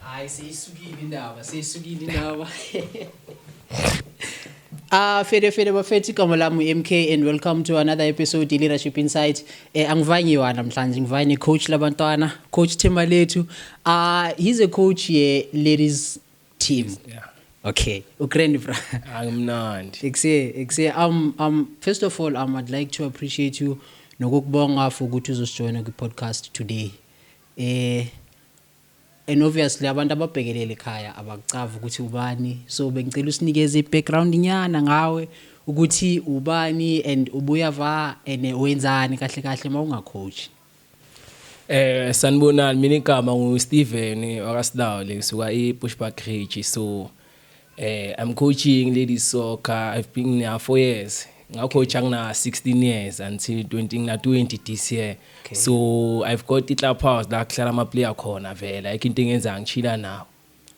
Hayi seyisukile indaba, seyisukile indaba. Ah uh, fede fede bafethu igama lami MK and welcome to another episode ye Leadership Insight. Eh angivanye wa namhlanje ngivanye coach labantwana, coach Themalethu. Ah uh, he's a coach ye ladies team yeah. okay ugrand bra angimnandi ekusee ekusee um, um, first of all um, i'd like to appreciate you nokukubonga for ukuthi uzosijoyina kwi-podcast today eh and obviously abantu ababhekelele ekhaya abakucavi ukuthi ubani so bengicela usinikeze i-background nyana ngawe ukuthi ubani and ubuya va and wenzani kahle kahle uma ungacoachi Eh sanibonani mina igama ngu Steven wakaSilawu ngisuka eBushbuck Ridge so eh I'm coaching ladies soccer I've been there for years ngacoacha ngina 16 years until 20 ngina 20 this year okay. so I've got i-club house la kuhlala ama player khona vela ikho into engenza ngichila nawo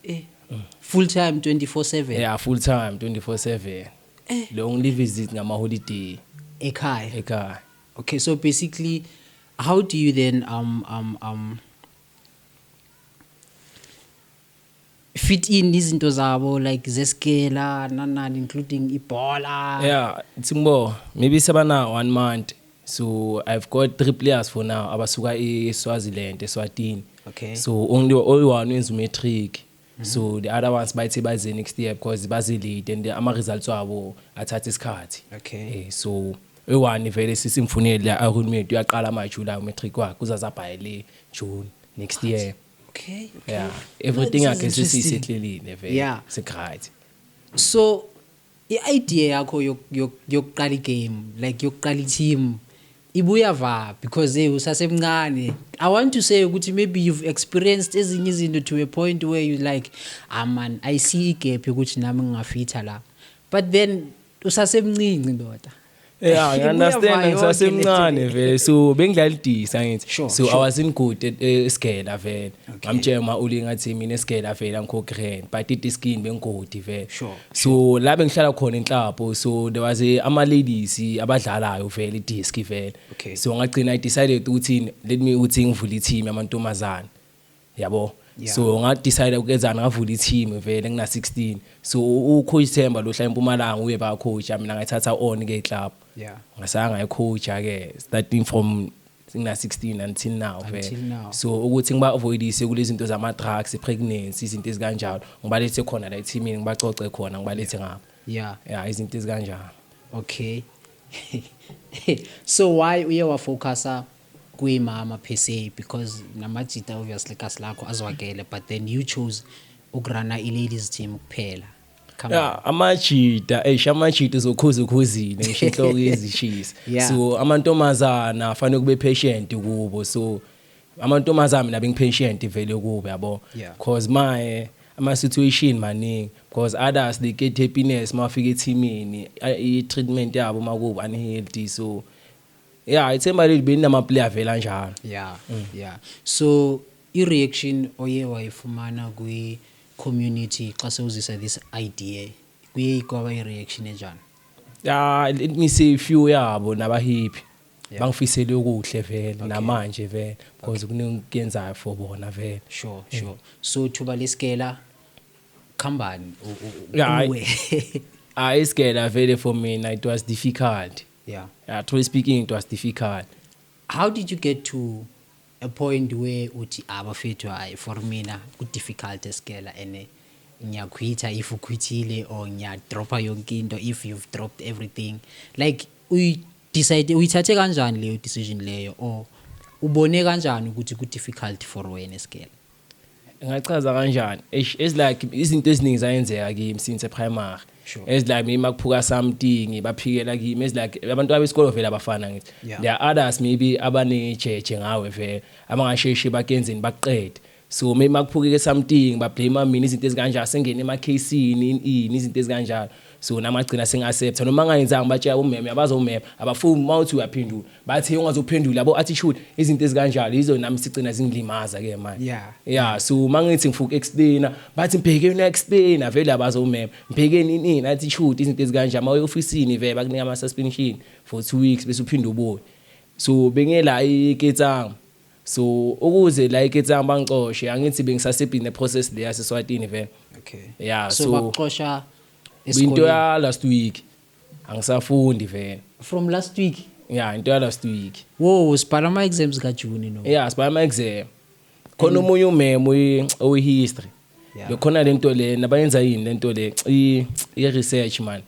eh mm. full time 24/7 yeah full time 24/7 eh. long live visit ngama holiday ekhaya ekhaya Okay so basically how do you then um um um fit in izinto zabo like zeskela nanani including ibhola yeah tsimbo maybe sebana one month so i've got three players for now abasuka eswaziland eswatini okay so only only one wenza umatric Mhm. so the other ones bayithe baze next year because bazilide and ama-results wabo athatha isikhathi Okay. Eh, so eyi-one vele sisimfunele la ahulumeti uyaqala amajulayi umatric wakhe uzazabhaye le june next year Okay. yeah everything This is yakhe interesting. sesiyisehlelile vele Yeah. sikright So I idea yakho yokuqala i game like yokuqala i team ibuya va because hey usasemncane. I want to say ukuthi maybe you've experienced ezinye izinto to a point where you like ah man I see i gap ukuthi nami ngingafitha la. But then usasemncinci ndoda. Yeah, ngi understand ngisasemncane vele so bengidlalidisa ngithi sure, so sure. I was in good eh, eh, esigela vele ngamtshela uma uli ngathi mina esigela vele angikhokhi rent but it is skin bengigodi vele sure, so sure. la bengihlala khona enhlapho so there was eh, ama ladies abadlalayo vele idisc vele okay. so ngagcina i decided ukuthi let me uthi ngivule i team yamantombazana yabo Yeah. so ngadecide ukenzani ngavula i-team vele ngina-16 so u- ucoach themba lohla empumalanga uye bacoacha mina ngayithatha on ke club Yeah. ngasaya ngayicoacha ke starting from ngina-16 until now Until vele now. so ukuthi ngibavoidise kule zinto zama-drugs i-pregnancy izinto ezikanjalo ngibalethe khona la ethimini ngibacoce khona ngibalethe ngapha Yeah. ya izinto ezikanjalo Okay. so why uye wafocusa kuyimama per se because namajita obviously kasi lakho azwakele but then you chose ukurana i-ladies team kuphela Come yeah, on. amajita eish amajita uzokhuza ukhuzile ngisho inhloko izishisa yeah. so amantombazana afanele kube patient kubo so amantombazana mina bengipatient vele kubo yabo yeah. cause my ama situation maningi because others they get happiness mafika ethimini i treatment yabo makuba unhealthy so Yeah, ithemba leli belinama player vela njalo. Yeah. Mm. Yeah. So i reaction oye wayifumana kwi community xa sewuzisa this idea kuye ikwaba i reaction enjani? Yeah, let me say few yabo nabahipi. Yeah. Bangifisele okuhle vele okay. namanje vele because okay. kunengiyenzayo for bona vele. Sure, mm. sure. So thuba lesikela khambani uwe. Yeah. Hayi isikela vele for mina it was difficult. yeah yeah truly speaking it was difficult how did you get to a point where uthi abafethu ah, hayi for mina ku difficult eskela and eh, ngiyakhwitha if ukhwithile or ngiyadropha yonke into if you've dropped everything like uyi decide uyithathe kanjani leyo decision leyo or ubone kanjani ukuthi ku difficult for wena eskela ngachaza kanjani eish as like izinto eziningi zayenzeka kimi since primary Sure. as like maybe makuphuka something baphikela kimi as like abantu abesikolo vele abafana ngithi Yeah. there are others maybe abanejeje ngawe vele abangasheshi bakenzeni bakuqede so maybe makuphukeke something bablame mina izinto ezikanjalo sengene emakhasini ini izinto ezikanjalo so namagcina singaseptha noma angayenzanga batshela umeme abaza umeme abafuni uma uthi uyaphendula bathi ungazophendula yabo attitude izinto ezikanjalo yizo nami sigcina zingilimaza ke manje yeah yeah so mangithi ngifuna explain bathi ngibheke una explain vele abaza umeme ngibhekeni inini attitude izinto ezikanjalo ama officeini vele bakunika ama suspension for 2 weeks bese uphinde ubuye so bengela iketsanga So ukuze like it's bangicoshe angithi bengisasebhini ne process le yase Swatini vele. Okay. Yeah so, so bakuxosha esikoleni. Into ya last week angisafundi vele. From last week. Yeah into ya last week. Wo sibhala ama exams ka June no. Yeah sibhala ama exam. Khona omunye umemo oyi history. Bekhona lento le nabayenza yini lento le i research man.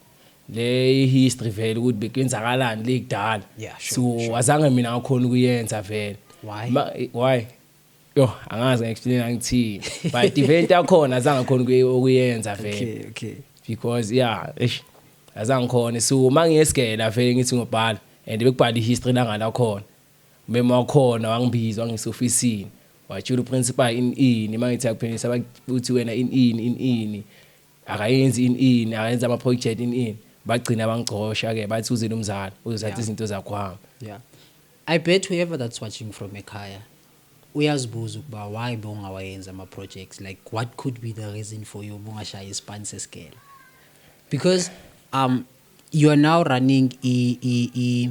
le history vele ukuthi bekwenzakalani le kudala yeah, sure, so sure. azange mina ngakhona ukuyenza vele why Ma, why yo angazi ngiexplain angithini but event yakhona azange khona ukuyenza vele okay okay because yeah eish azange khona so mangiyesigela vele ngithi ngobhala and bekubhala ihistory langa la khona mema wakhona wangibiza wangisofisini watshula uprincipal in ini mangithi akuphendisa bakuthi wena in ini in ini akayenzi in in akayenza ama project in in bagcina bangicosha ke bathi uzini umzala uzothatha izinto zakho hamba yeah i bet whoever that's watching from ekhaya uyazibuza ukuba why bongawayenza ama projects like what could be the reason for you bungashaya ispan sesigela because um you are now running i i i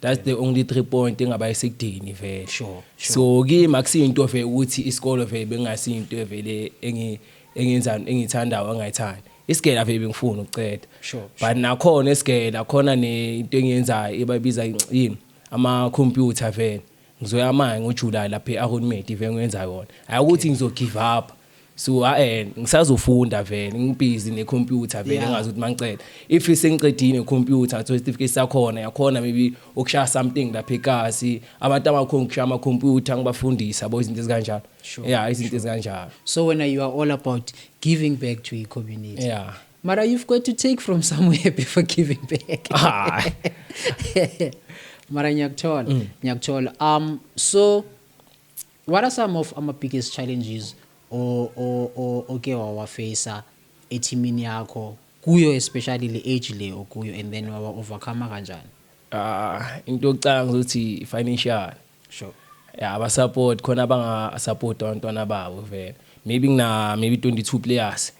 That's the only three point engaba isidini vele. Sure, sure. So kimi akusiyinto vele ukuthi isikole vele bengasinto vele engi engenza engithandayo angayithandi. Isigela vele bengifuna ukuceda. Sure, But nakhona isigela khona ne into engiyenzayo ebabiza yini ama computer vele. Ngizoya manje ngoJuly lapha eAronmate vele ngiyenza yona. Hayi ukuthi ngizo give up. so ah, eh ngisazofunda vele ngibhizi ne computer vele Yeah. ngazi ukuthi mangicela if sengiqedile computer so certificate sakhona yakhona maybe ukushaya something lapha ekasi abantu abakhona ukushaya ama computer ngibafundisa yabo izinto ezikanjalo Sure, yeah izinto ezikanjalo so wena you are all about giving back to i-community yeah mara you've got to take from somewhere before giving back Ah. mara ngiyakuthola ngiyakuthola um so What are some of ama biggest challenges oke wawafeyisa ethimini yakho kuyo especially le age le okuyo and then wawa overcome kanjani ah into yokucanga ukuthi financial sure yeah aba support khona abanga support abantwana babo vele maybe ngina maybe 22 players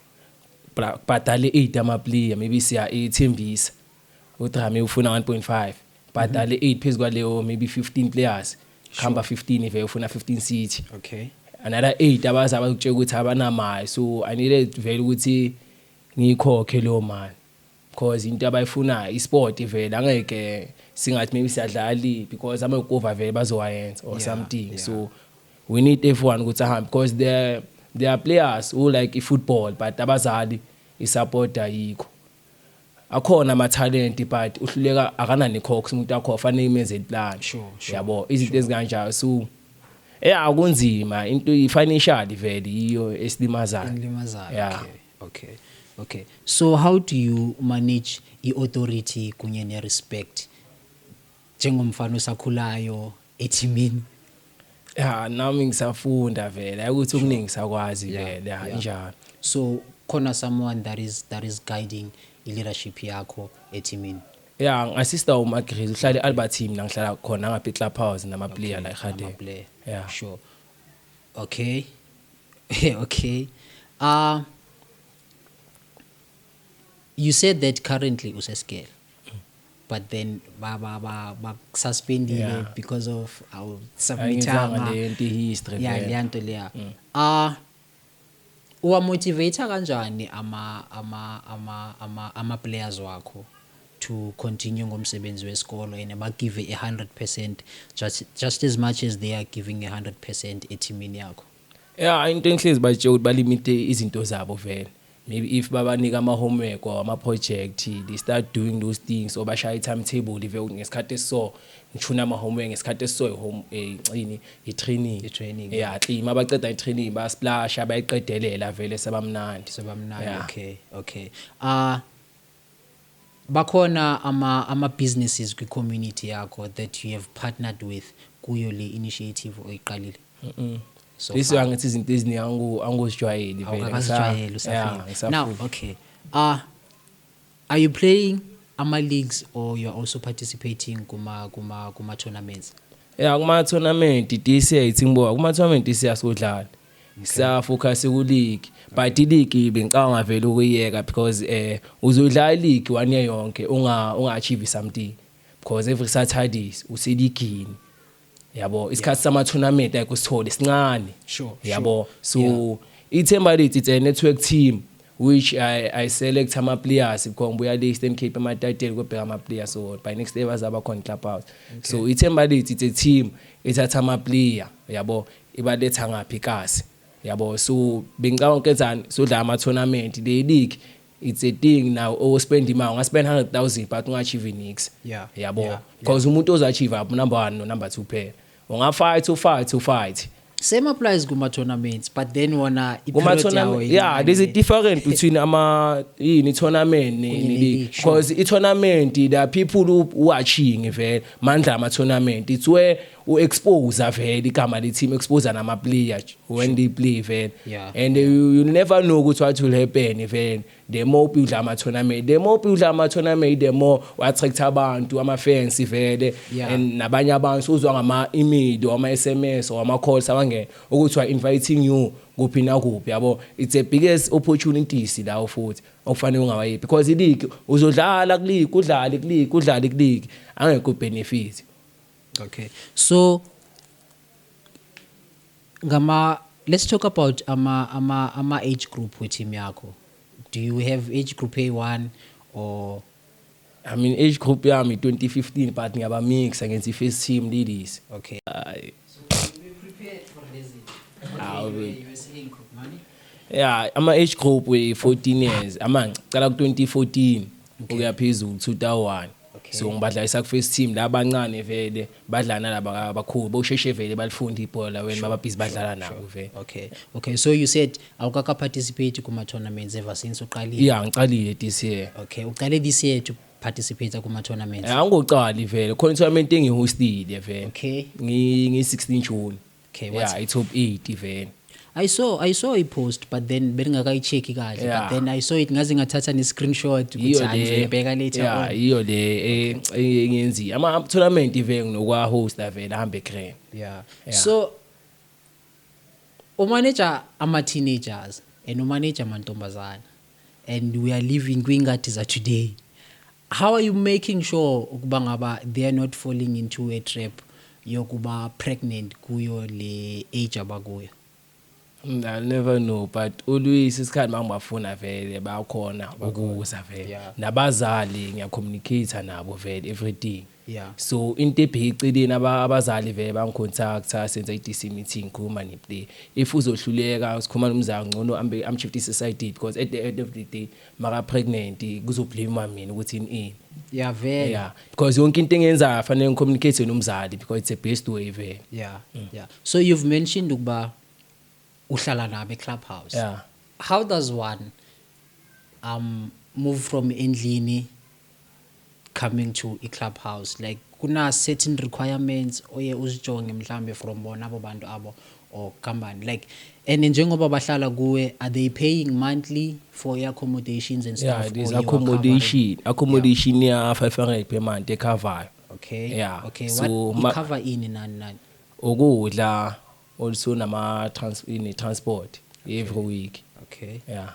bhadale 8 ama player maybe siya ethembisa Udrame ufuna 1.5 bhadale 8 phezu kwaleyo maybe 15 players khamba 15 ive ufuna 15 city okay another 8 abazi abakutshela ukuthi abanamali so i needed vele ukuthi ngiyikhokhe leyo mali because into abayifunayo isport vele angeke singathi maybe siyadlali because amakova vele bazowayenza or something so we need everyone ukuthi ahambe because there there are players who like i-football but abazali i-support ayikho akhona ama talent but uhluleka akanani cox umuntu wakho fanele imenze plan sure, sure, yabo izinto sure. ezikanjalo so eh akunzima into financial vele iyo esilimazayo esilimazayo yeah. okay okay okay so how do you manage i authority kunye ne respect njengomfana osakhulayo ethimini ya nami ngisafunda vele ukuthi okuningi sakwazi vele ya injalo so khona someone that is that is guiding i-leadership yakho ethimini ya ngasista umagriz uhlala e-albert team la ngihlala khona ngapha i-club house namaplayer la ekhande amaplayer ya sure okay okay uh you said that currently usesigele but then ba ba ba ba suspendile yeah. because of our submitanga le nto history yeah le nto leya mm. ah uwa motivate kanjani ama ama ama ama ama players wakho to continue ngomsebenzi wesikolo and ba give a 100% just just as much as they are giving a 100% ethimini yakho Yeah, into engihlezi batshela ukuthi balimite izinto zabo vele. Maybe if babanika ama homework or ama project, they start doing those things or bashaya timetable live ngesikhathi so ngithuna ama homework ngesikhathi so home eh cini i training. I training. Yeah, clean mabaceda i training ba splash abayiqedelela vele sebamnandi. Sebamnandi. Yeah. Okay. Okay. Ah uh, Bakhona ama ama businesses kwi community yakho that you have partnered with kuyo le initiative oyiqalile? So Bese far. angithi izinto eziningi angu- angozijwayeli vele. Ngisa- Awukakazijwayele Yeah, usafile. ngisafunda. Now, okay. Uh, are you playing ama leagues or you are also participating kuma kuma kuma tournaments? ya kuma-tournament dca ithi ngibuka kuma-tournament dca sodlala Ngisaya focus ku league but i league bengicabanga vele ukuyeka because eh uzodlala i league one year yonke unga unga achieve something because every Saturdays useligini yabo isikhathi sama tournament like usithole sincane Sure, yabo so ithemba lethu it's a network team which I, I select ama players because ngibuya le Eastern Cape amatateli kobheka ama players so by next day bazaba khona club house so ithemba lethu it's a team ethatha ama player yabo ibaletha ngaphi kasi yabo so bengicabanga ukenzani sodlala ama tournament le league it's a thing now o spend imali unga spend 100000 but unga achieve nix yeah yabo yeah, because yeah. umuntu oza achieve up number 1 no number 2 phela unga fight u fight u fight same applies kuma tournaments but then wona kuma tournament yeah there's a different between ama yini tournament ne because i tournament there are people who watching vele mandla ama tournament it's where u expose vele igama le team expose nama player when they play vele yeah. and yeah. You, you never know ukuthi what will happen vele the more udla ama tournament the more udla ama tournament the more attract abantu ama fans vele yeah. and nabanye abantu uzwa ngama email or ama SMS or ama calls abangena ukuthi wa inviting you kuphi na kuphi yabo it's a biggest opportunities lawo futhi okufanele ungawayibi because iligi uzodlala kuligi udlale kuligi udlale kuligi angekho benefit Okay. So ngama let's talk about ama ama ama age group we team yakho. Do you have age group A1 or I mean age group yami 2015 but ngiyaba mixa ngenza i-first team ladies. Okay. Hayi. Hawu be- Yeah, ama age group we 14 years. Ama ngicala ku 2014 ukuya phezulu 2001. Okay. so ngibadlalisa ku-first team la bancane vele badlala nalaba abakhulu bosheshe vele balifunda ibhola wena bababhizi badlala nabo vele okay okay so you said awukakaparticipate kuma-tournaments ever since uqalile ya ngicalile this year okay uqale this year to participate kuma-tournaments Eh, angicali vele khona i-tournament engihostile vele okay ngi-16 june okay what yeah it's hope e tiveni I saw I saw i post but then bengingakayicheki kahle yeah. but then I saw it ngaze ngathatha ne screenshot ukuthi angibheka later yeah, on iyo le eh, eh, engenzi ama tournament iveng nokwa host avela hambe grand yeah. yeah so umanager ama teenagers and umanager amantombazana and we are living kwingadi za today How are you making sure ukuba ngaba they are not falling into a trap yokuba pregnant kuyo le age abakuyo? I never know but always isikhathi mangibafuna vele bakhona ukuza vele nabazali ngiyacommunicate nabo vele everything Yeah. So into ebheceleni abazali vele bangicontacta senza i-DC meeting ngikhuluma neplay. If uzohluleka sikhuluma nomzali ngcono ambe amshiftise side because at the end of the day maka pregnant kuzoblame mina ukuthi ini. Yeah vele. Yeah. Because yonke into engenzayo fanele ngicommunicate nomzali because it's a best way vele. Yeah. Mm. Yeah. So you've mentioned ukuba uhlala nabo eClubhouse. Yeah. How does one um move from endlini coming to i club house like kuna certain requirements oye uzijonge mhlambe from bona abo bantu abo or company like and njengoba bahlala kuwe are they paying monthly for your accommodations and stuff yeah it is accommodation accommodation yeah. ya 500 per month ekhavayo okay yeah okay so what cover ini nani nani ukudla also nama trans ini transport every week okay yeah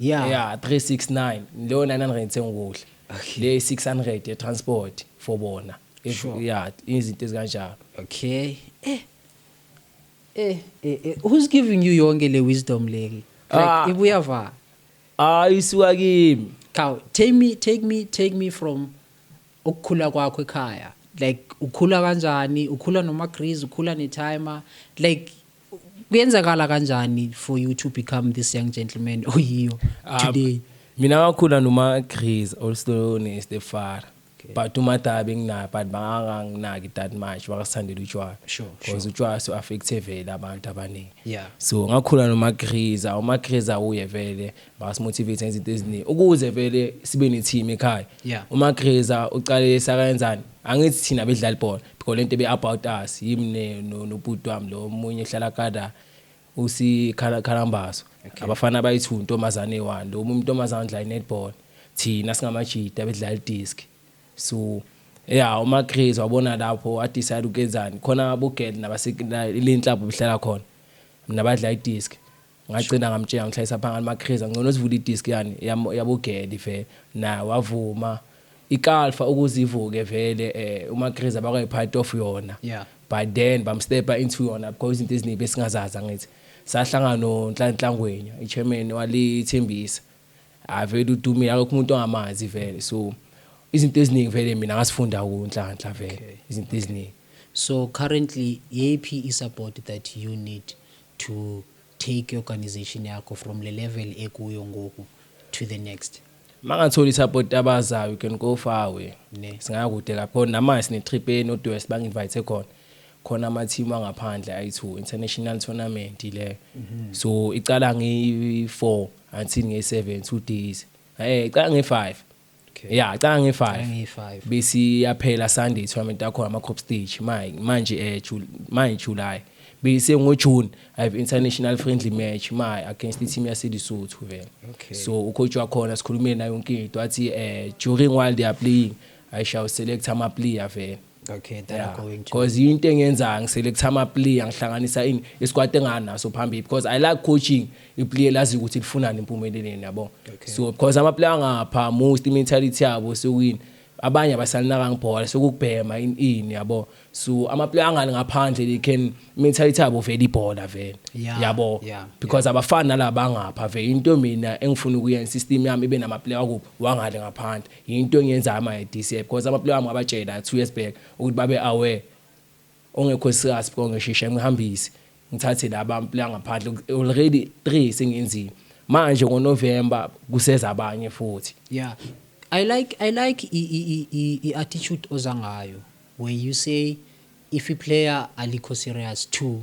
Yeah. yeah 369 leyo 900 sengukudla Okay. le 600 ye transport for bona If- Sure. yeah izinto ezikanjalo Okay. Eh. Eh, eh, eh. Who's giving you yonke le wisdom leli? Ah. Like ibuya va. hayi isuka kimi Cow, take me take me take me from ukukhula kwakho ekhaya. Like ukhula kanjani? Ukhula noma grease, ukhula ne timer. Like kuyenzakala kanjani for you to become this young gentleman oyiyo ah, today mina ngakhula noma Chris also ne Stefara but umataba enginayo but banganginaki that much bakasithandela utshwala because utshwala so affecte vele abantu abaningi so ngakhula nomagriza umagriza uye vele basimotivate ngezinto eziningi ukuze vele sibe ne-team ekhaya Yeah. uma greza ucale sakayenzani angithi thina bedlala ibhola because lento be-about us yimi ne- no- nobhuti wami lo omunye ohlala kada usikhalambaso abafana abayi-two ntombazane eyi-one lo omunye intombazane odlala i-netball thina singamajita bedlala i-disk so ya uma craze wabona lapho wadecide ukuyenzani khona abogel nabaselenhlapho behlala khona mna badla i-disk ngagcina ngamtshela ngihlayisa phangani makhriza ngcono sivula idisk yani yabogedi vele naye wavuma ikalfa ukuze ivuke vele eh umakhriza bakwayi part of yona yeah but then bamstepa into yona because izinto eziningi besingazaza ngithi sahlangana nonhlanhlangwenya ichairman walithembisa avele udumile akukho umuntu ongamazi vele so izinto eziningi vele mina ngasifunda kunhlanhla vele izinto eziningi so currently yiphi isupport that you need to take i-organisation yakho from le level ekuyo ngoku to the next. Mangathola i-support abazayo, you can go far away. Ne. Singakude lapho namanje sine-trip e-North West bangi-invite khona. Khona ama-team angaphandle ayi-two, international tournament leyo. So icala ngeyi-four until ngeyi-seven, two days. Eh, icala ngeyi-five. Okay. Yeah, cha ngi 5. Ngi 5. Bisi yaphela Sunday tournament yakho ama group stage. Manje manje eh manje July. Bese ngo June I have international friendly match my against the team yase Lesotho vele. Okay. So ucoach wakhona sikhulumile naye yonke into athi eh during while they are playing I shall select ama player vele. Okay, that yeah. I'm going to. Because into engenza ngiselect ama player ngihlanganisa in isikwati enganaso phambili because I like coaching i player lazi ukuthi lifunani impumeleleni yabo. Okay. So because ama player ngapha most mentality yabo sewini abanye abasalinaka ngibhola sokubhema in in yabo so ama player angani ngaphandle they can mentality yabo vele ibhola vele yeah, yabo yeah, because yeah. abafani nalaba ngapha vele into mina engifuna ukuyenza system yami ibe nama player kubo wangale ngaphandle Yinto engiyenzayo manje this year because amaplayer wami ngabatshela two years back ukuthi babe aware ongekho serious before ngishishe ngihambise ngithathe laba amaplayer ngaphandle already 3 sengenzile manje ngoNovember kuseza abanye futhi yeah i like i like i i i, i attitude ozangayo where you say if a player alikho serious to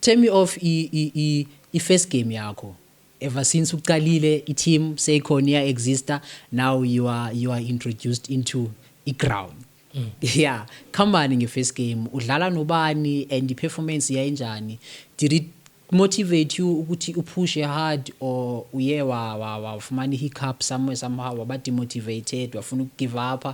Tear me off i i i i first game yakho ever since uqalile i team seyikhona iya exista now you are you are introduced into i ground yeah khambani nge first game udlala nobani and i performance yayinjani did it Motivate you ukuthi u push hard or uye wa wa wafumana hiccup somewhere somehow waba demotivated wafuna uku give up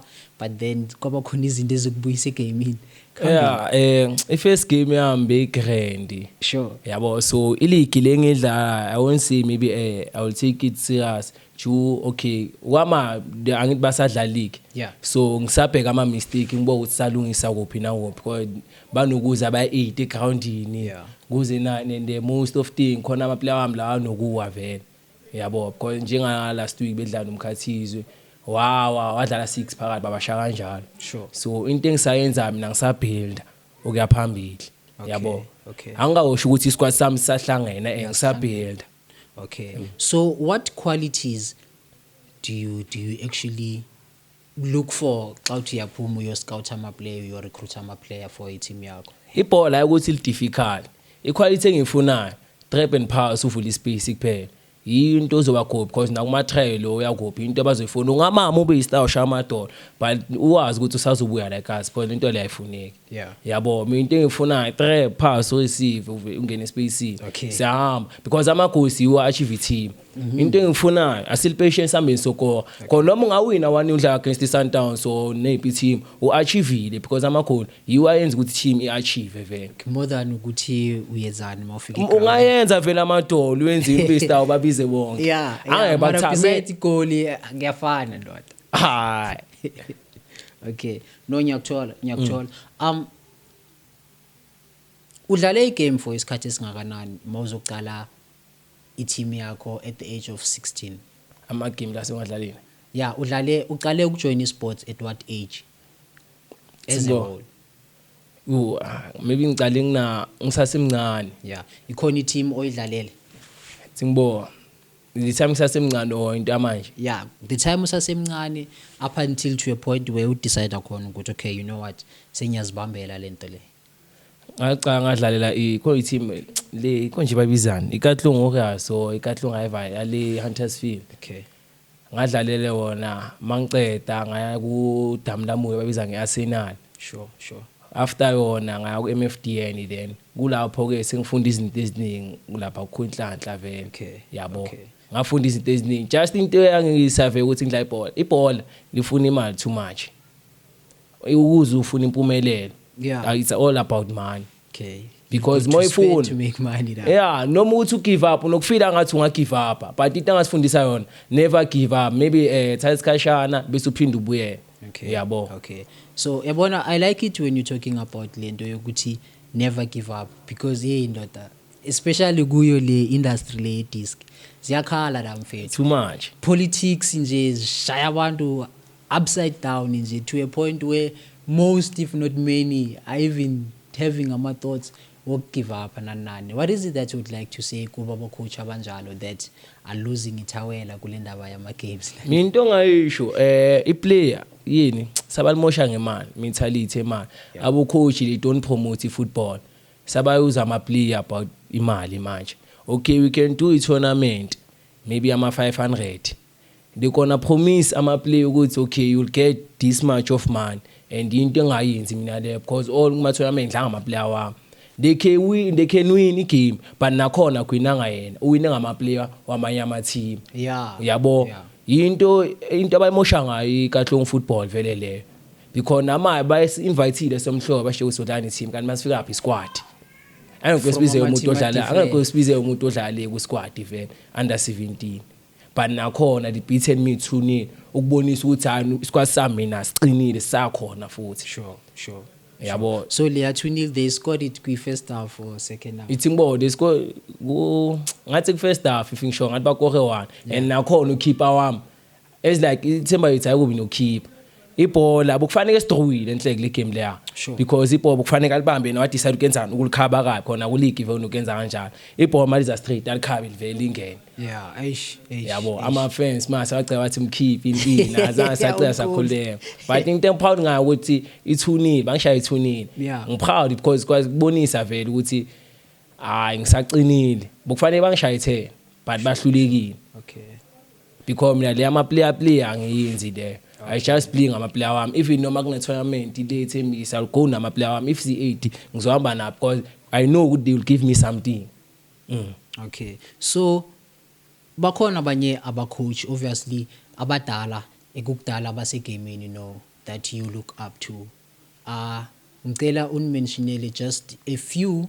but then kwaba khona izinto ezikubuyisa egamini. Yeah, eh i first game yami be grand. Sure. Yabo so iligi lengidla I won't say maybe eh I will take it serious. Ju okay wama the- angithi basadlala league Yeah. so ngisabheka ama mistake ngibo ukuthi salungisa kuphi na kuphi Kwa- banokuza ba 8 egroundini Yeah. kuze na and the most of thing khona ama player wami la anokuwa vele yabo because njenga last week bedlala nomkhathizwe wawa wadlala 6 phakathi babasha kanjalo Sure. so into engisayenza mina ngisabuilda okuya phambili Okay, yabo okay. angikawusho ukuthi isquad sami sahlangene and ngisabuilda Okay. Mm. So what qualities do you do you actually look for xa uthi uyaphuma uyoscout amaplayer uyorecruit amaplayer for iteam yakho ibhola ukuthi lidifficult iquality engiyifunayo trap and pass uvula ispace kuphela yinto ozoba gobi because nakumatrail lo uyagobi into abazoyifuna ungamama ube yistar ushaya amadola but uwazi ukuthi usazobuya like us because into leyo ayifuneki Yeah. yabo mina into engiyifunayo tre pass oyisive uve- ungene espacini Okay. siyahamba because amagosi yiwo achieve team Mhm. into engiyifunayo asilipation sihambeni sokora khona noma ungawina one udlala against i-sundowns or neyiphi team u-achievile because amakhona yiwo ayenza ukuthi team i-achieve vele more than ukuthi uyenzani uma ufika eground. ungayenza vele amadolo wenze impista ubabize bonke yeah, yeah, Angeke mara bakuthathe. besides igoli eh, ngiyafana ndoda hayi okay no ngiyakuthola ngiyakuthola mm. um udlale igame for isikhathi esingakanani uma uzoqala i-team yakho at the age of 16 amagame la sengiwadlalile ya udlale uqale ukujoyina i-sports at what age as a whole u ah, maybe ngicale ngina ngisasemncane ya ikhona i-team oyidlalele singibonga the time kusasemncane or into yamanje yeah the time usasemncane up until to a point where udecide khona ukuthi okay you know what sengiyazibambela lento le ngacanga ngadlalela ikho i-team le ikho nje babizani ikatlung okaso ikatlung ayiva yale hunters field okay ngadlalele wona mangiceda ngaya ku damu lamuyo babiza nge-arsenal sure sure After yona ngaya ku MFDN then kulapho ke sengifunda izinto eziningi kulapha kukho inhlanhla vele. Okay. Yabo. Okay. Ngafunda izinto eziningi. Just into eyangisave ukuthi ngidla ibhola. Ibhola lifuna imali too much. Ukuze ufuna impumelelo. Yeah. Uh, it's all about money. Okay. because uma ifuna to make money la yeah noma uthi ugive up nokufila ngathi unga give up but into angasifundisa yona never give up maybe eh thatha isikhashana bese uphinde ubuyele Okay. Uyabo. Okay. So yabona I like it when you talking about lento yokuthi never give up because hey ndoda especially kuyo le industry le disc ziyakhala la mfethu. Too much. Politics nje zishaya abantu upside down nje to a point where most if not many are even having ama thoughts woku give up nani nani what is it that you'd like to say kuba bocoach abanjalo that are losing ithawela kule ndaba yama games mina into ongayisho eh i player yini sabalimosha ngemali mentality emali yeah. abo coach they don't promote football sabayuza ama player about imali manje okay we can do a tournament maybe ama 500 They gonna promise ama play ukuthi okay you'll get this much of money and into engayenzi mina le because all kuma tournament dlanga ama player wami they can win they can win igame but nakhona kwinanga yena uwine ngama player wamanye ama team yeah uyabo yeah. yinto into abayimosha ngayo ikatlong football vele leyo because namaye bayi-invitile somhlobo bashiye ukuthi udlani team kanti masifika phi squad angeke sibize umuntu odlala angeke sibize umuntu odlale ku squad vele under 17 but nakhona the beaten me too nil ukubonisa ukuthi hayi isikwasi sami mina siqinile sakhona futhi sure sure yabo so leya 2 nil they scored it kwi first half or second half ithi ngibo they score ku ngathi ku first half if ngisho ngathi bakore one and nakhona ukhipha wami it's like ithemba yithi ayikubi nokhipha ibhola bokufanele sidrowile enhleke le game leya sure. because ibhola bokufanele alibambe yena wadecide ukenzani ukulikhaba kabi khona kuligi vele ukenza kanjalo ibhola maliza straight alikhabe livele lingene yeah eish eish yabo ama fans mase wacela wathi mkhiphi impini azange sacela sakhuleka but into em proud ngayo ukuthi ithunile bangishaya ithunile yeah. ngi proud because kwazi kubonisa vele ukuthi hayi ngisaqinile bokufanele bangishaya ithena but bahlulekile okay because mina le ama player player angiyenzi le I just play ngama player wami even noma kune tournament le ethembisa I'll go nama player wami if si 80 ngizohamba nabo because I know ukuthi they will give me something mm. okay so bakhona abanye aba coach obviously abadala ekukudala abasegamini no that you look up to uh ngicela unimentionele just a few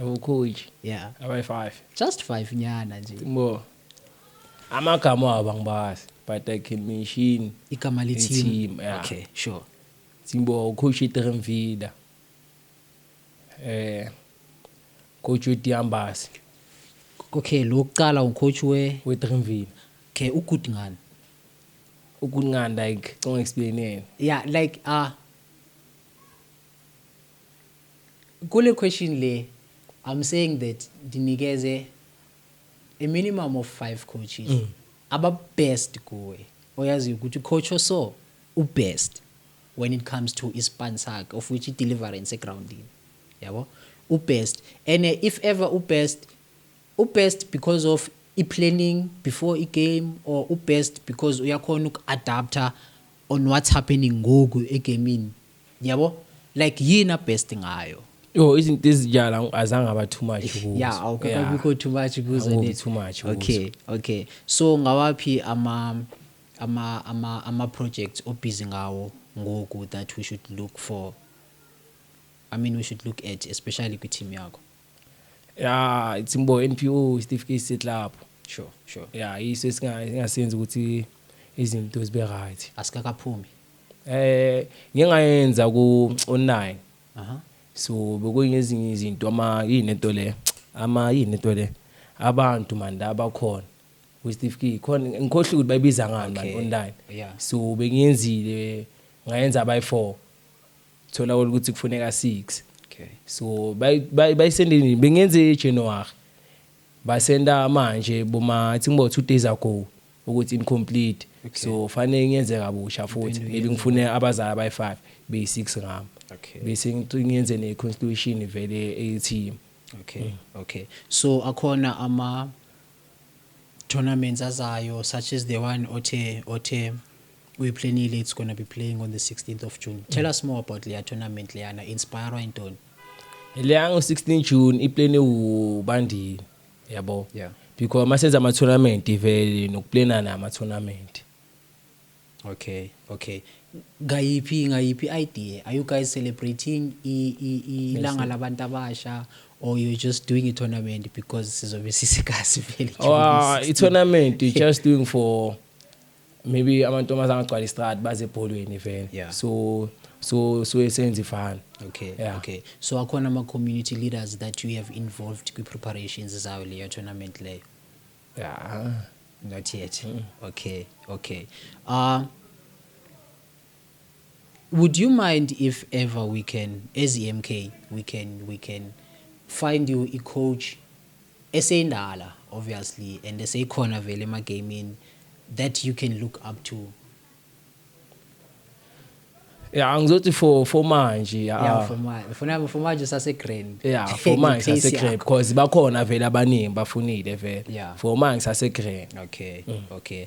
Awukhoji. Yeah. Abayi 5. Just 5 nyana nje. Bo. Amagama abo angibazi but I can mention igama le team. Yeah. Okay, sure. Simbo coach Tremvida. Eh coach Diambasi. Okay, lo kuqala ucoach we we Tremvida. Okay, ugood ngani? Ugood ngani like ngicela explain yena. Yeah, like ah uh, Kule question le I'm saying that ndinikeze a minimum of five coaches mm. aba best kuwe oyaziyo ukuthi coach oso u best when it comes to ispan sakhe of which i-deliverance egroundini yabo ubest and eh, if ever ubest ubest because of i-planning before i-game or ubest because uyakhona uku-adapter on what's happening ngoku egamini Yabo? Like yini abest ngayo? Yo izinto ezinjala azange aba too much kuzo. Yeah, awukakabikho too much kuzo Angibi ne. too much kuzo. Okay, okay. So ngawaphi ama ama ama ama projects obusy ngawo ngoku that we should look for I mean we should look at especially kwi team yakho. ya it's mbo NPO isitifiketi setlapho sure sure ya yiso esingasenza ukuthi izinto zibe right asikakaphumi eh ngingayenza ku online aha so bekuyingezinye izinto ama yini into le ama yini into le abantu manje abakhona kwisitifiketi khona ngikhohle ukuthi bayibiza ngani manje online so bengiyenzile ngayenza by 4 thola ukuthi kufuneka 6 okay so bayisende nini bengenze eJanuary basenda manje boma think about 2 days ago ukuthi incomplete okay. so fanele ngenze kabusha futhi maybe ngifune abazali abayi5 beyi6 ngami okay bese ngiyenze ne constitution vele eyeteam okay mm. okay so akhona ama tournaments azayo such as the one othe othe we planile it's gonna be playing on the 16th of June. Tell us more about leya tournament leyana inspire intoni? Leya ngo 16 June i plane ubandile yabo. Yeah. Because masenza ama tournament vele nokuplana nama tournament. Okay, okay. Ngayiphi ngayiphi idea? Are you guys celebrating ilanga labantu abasha or you're just doing a tournament because sizobe sisikazi vele? Oh, i tournament you just doing for maybe amantombazana agcwala istrad baze ebholweni vele yeah. so so so esenza ifana okay yeah. okay so akhona ama community leaders that you have involved kwi preparations zayo leyo tournament leyo yeah not yet mm. okay okay uh Would you mind if ever we can as iMK we can we can find you i coach eseyindala obviously and eseyikhona vele ema gamini that you can look up to Yeah, angizothi for for manje yeah, yeah for manje funa for manje sase grand yeah for manje sase grand because bakhona vele abaningi bafunile vele yeah. for manje sase grand okay mm. okay